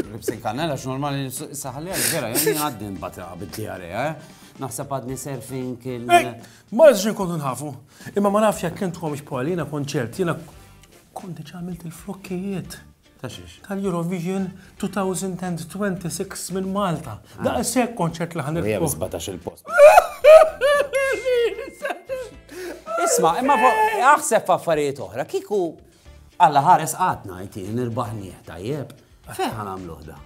Ribsej kannella x'normali issa ħalli għal vera, jien għaddi nbata bid-diarrea, eh? naħseb għadni surfing il. Ma nżġi kontu nħafu. Imma ma nafx jekk intkom xpali, jina konċert, jina konti ċamilt il-flokkijiet. Tal-Eurovision 2026 minn Malta. Ah. Da' sekk konċert li ħanil. Jgħem 17 il-post. Isma, imma aħseb affarijiet oħra, kiku Alla ħares qatna jti nirbaħnieh tajjeb. Fejn ħa nagħmluh da?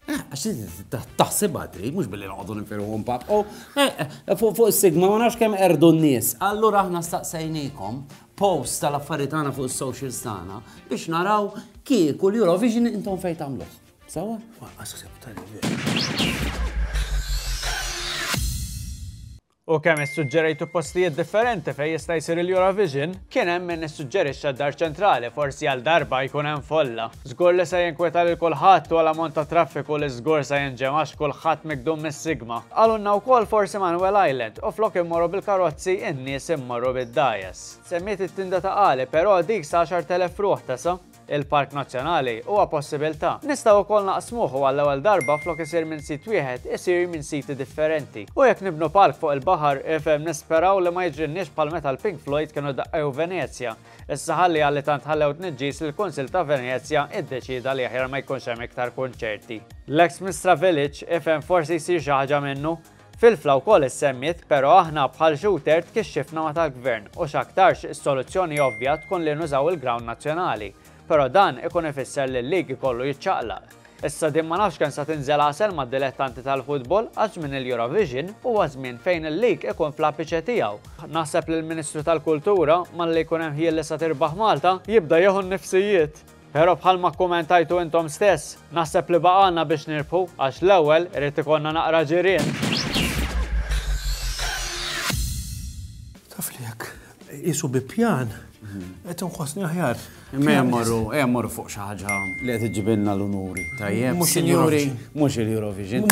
Eh, għax taħsibha trid mhux billi noqogħdu nifirħu mbagħad. Oh, eh, eh, fuq is-sigma ma nafx kemm erdu n-nies. Allura aħna staqsejnikom post tal-affarijiet tagħna fuq is-socials tagħna biex naraw kieku l-Eurovision intom fejn tagħmluh. Sawa? Waqqas ħseb tal U kemm issuġġerejtu postijiet differenti fejn jista' jsir il-Eurovision? Kien hemm min issuġġerixxa d-Dar Ċentrali, forsi għal darba jkun hemm folla. Żgur li se jinkweta lil kulħadd u għal ammont ta' traffiku li żgur se jinġemgħa għax kulħadd mikdum mis-sigma. Qalulna wkoll forsi Manuel Island u flok immorru bil-karozzi in-nies immorru bid-dgħajjes. Semmiet it-tinda ta' Qali, però dik sa 10,000 ruħ tesa'. Il-Park Nazzjonali huwa possibiltà. Nistgħu wkoll naqsmuh u għall-ewwel darba flok isir minn sit wieħed isir minn siti differenti. U jekk nibnu park fuq il-baħar, ifhem nisperaw li ma jiġrilniex bħal meta l-Pink Floyd kienu daqqew Venezja. Issa ħalli għalli tant ħallew tniġġis li l-Kunsill ta' Venezja iddeċieda li aħjar ma jkunx hemm iktar kunċerti. L-ex Mistra Village, ifhem forsi jsir xi ħaġa minnu. Filfla wkoll issemmiet, pero aħna bħal Xutert kixxifna ma tal-Gvern u x'aktarx is-soluzzjoni ovvja tkun li nużaw il-ground nazzjonali. Pero dan ikun ifisser li l-league ikollu jiċċaqlaq. Issa din ma nafx kemm sa tinżel għasel mad-dilettanti tal-football għax żmien il-Eurovision huwa żmien fejn il-league ikun fl-apiċe tiegħu. Naħseb li l-Ministru tal-Kultura, malli jkun hemm ħjiel li sa tirbaħ Malta, jibda jieħu n-nifsijiet. Però bħalma kkumentajtu intom stess, naħseb li baqgħalna biex nirbħu għax l-ewwel irid ikollna naqra ġirien. Taf li jekk qisu bi pjan, qed inħossni aħjar. Imma hemm morru, hemm morru fuq xi ħaġa li qed iġibilna l-unuri. Tajjeb, Mhux sinjuri, il-Eurovision. mhux il-Eurovision.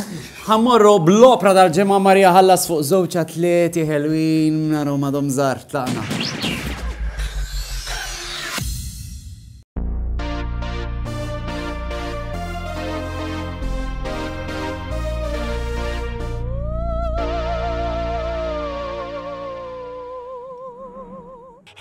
Ħammorru bl-opra tal-ġimgħa Marija ħallas fuq żewġ atleti ħelwin naru madhom żgħar tlaqna.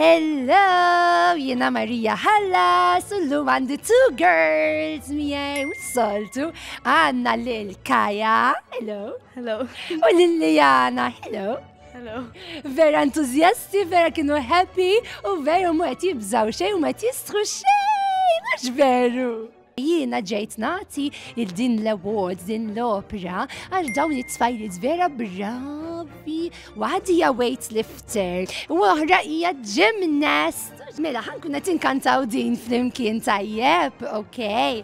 Hello, jena Marija Hallas, u l-lum għandi two girls miej, u soltu għanna l-Kaja, hello. Hello. U l-Lijana, hello. Hello. Vera entuzjasti, vera kienu happy u vera mu qed jibżaw xejn u ma qed jistħu xejn, mhux veru. Jiena ġejt nagħti il din l-award, din l-opera, għal dawn it-tfajliet vera bravi. Waħdi hija weightlifter, u oħra hija gymnast. Mela, ħankun qed inkantaw din flimkien tajjeb, okej.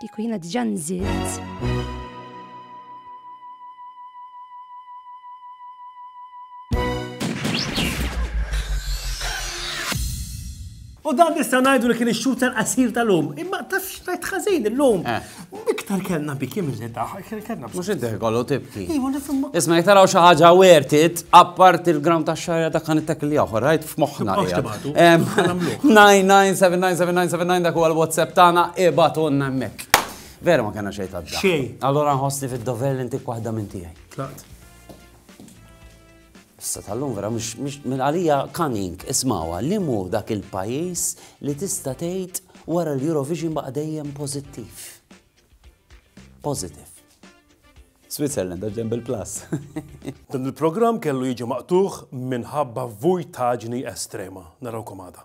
Kieku jiena diġà nżilt. U dan nista' ngħidu li kien ix-xhur tal-qasir tal-lum. Imma taf x'tajt ħażin illum. Eh. Iktar kellna biki mill-li daħal, kellna. Mux id kollu tibki. Iva, Isma, jek taraw xaħġa wertit, appart il-gram ta' xarja ta' kan it-tek li oħor, rajt f'moħna. 9979797 dak huwa l-WhatsApp tagħna ibatunna hemmhekk. Vera ma kena xejn ta' Xejn. Allora nħossni fid-dover li intik waħda minn tiegħi. Tlaqt. Issa tal-lum vera mhux minn għalija cunning ismawha li mu dak il-pajjiż li tista' tgħid wara l-Eurovision baqa' dejjem pożittiv. Positive. Switzerland, għax ġemb il-plus. Dan il-programm kellu jiġi maqtugħ minħabba vujtaġni estrema. Narawkom għada.